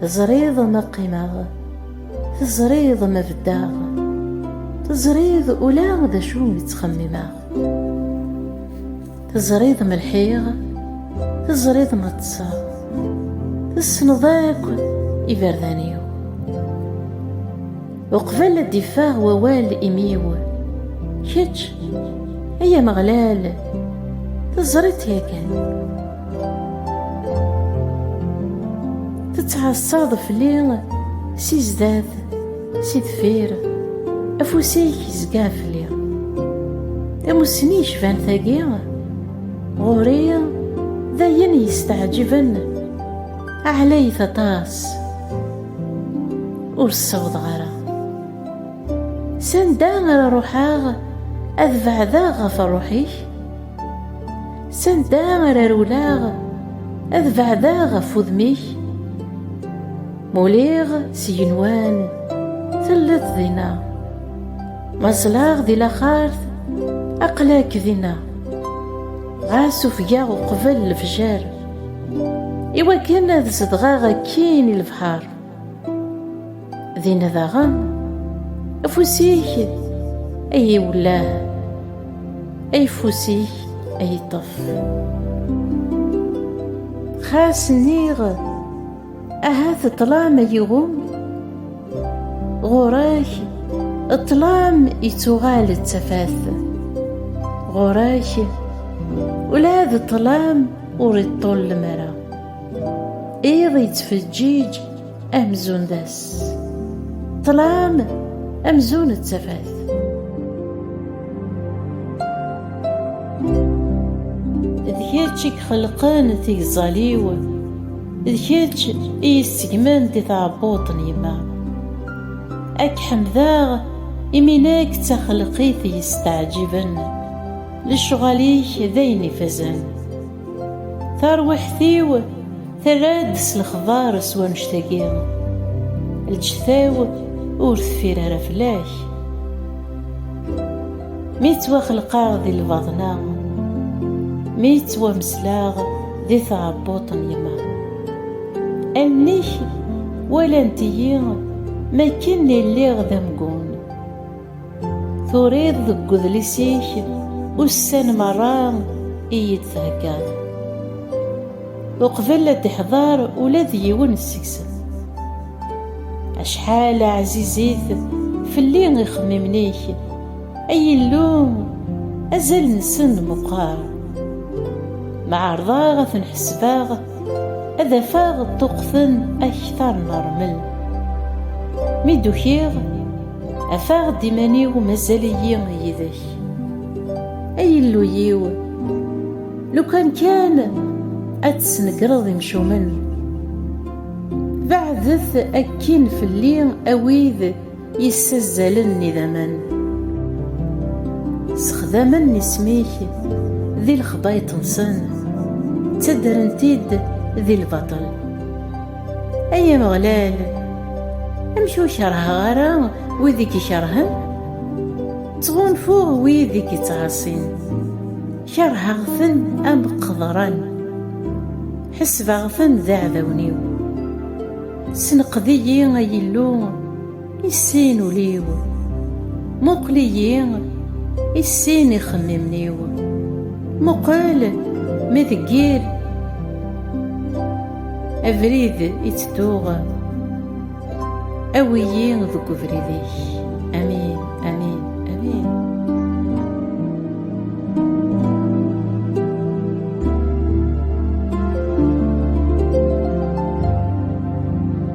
Teẓriḍ ma qqimeɣ, teẓriḍ ma beddeɣ, teẓriḍ ula d acu i ttxemmimeɣ. Teẓriḍ ma lḥiɣ, teẓriḍ ma ṭṭseɣ, tessneḍ akk iberdan-iw. Uqbel ad d-iffeɣ wawal imi-w, kečč, ay Ameɣlal, teẓriḍ-t yakan. Tettɛassaḍ fell-i si zdat, si deffir, afus-ik izga fell-i. Tamussni yecban tagi, ɣur-i d ayen yesteɛǧiben, ɛlayet aṭas, ur ssawḍeɣ ara. Sanda ara ruḥeɣ ad beɛdeɣ ɣef ṛṛuḥ-ik? Sanda ara rewleɣ ad beɛdeɣ ɣef wudem-ik Muliɣ s igenwan telliḍ dinna Ma ẓleɣ di laxart aql-ak dinna Ɣas ufgeɣ uqbel lefjer Iwakken ad zedɣeɣ akkin i lebḥer Dinna daɣen, afus-ik ay iwellah, ayeffus-ik ay iṭṭef. Xas nniɣ, ahat ṭṭlam ay iɣum, ɣur-ak ṭṭlam ittuɣal d tafat. Ɣur-ak ula d ṭṭlam ur iṭṭullem ara. Iḍ yettfeǧǧiǧ amzun d ass. Ṭṭlam amzun d tafat. D kečč i ixelqen tigẓal-iw, d kečč i yi-ssegmen di tɛebbuḍt n yemma. Ad k-ḥemdeɣ imi nekk d taxelqit yesteɛǧiben, lecɣal-ik d ayen ifazen. Tarwiḥt-iw terra-d s lexbar s wanect-agi, lǧetta-w ur teffir ara fell-ak. Mi ttwaxelqeɣ di lbaḍna, mi ttwamesleɣ di tɛebbuṭ n yemma, allen-ik walant-iyi mi akken i lliɣ d amgun. Turiḍ deg udlis-ik ussan merra i yi-d-theggaḍ. Uqbel ad d-ihḍer ula d yiwen seg-sen. Acḥal ɛzizit fell-i ixemmimen-ik, ay Illu, azal-nsen meqqer. Ma ɛerḍeɣ ad ten-ḥesbeɣ, ad afeɣ ṭṭuqten akter n rrmel. Mi d-ukiɣ, Afeɣ-d iman-iw mazal-iyi yid-k Ay Illu-yiw Lukan kan ad tesnegreḍ imcumen Beɛdet akkin fell-i a wid yessazzalen idammen Ssexdamen isem-ik di lexbayet-nsen Ttaddren-t-id di lbaṭel Ay Ameɣlal, amek ur kerheɣ ara wid i k-ikerhen? Ttɣunfuɣ wid i k-ittɛaṣin, kerheɣ-ten am qeḍran, ḥesbeɣ-ten d iɛdawen-iw. Senqed-iyi, ay Illu! I sin ul-iw, muqel-iyi, i sin ixemmimen-iw, muqel mi deg yir abrid i tedduɣ, awi-yi deg ubrid-ik. Amin, amin, amin.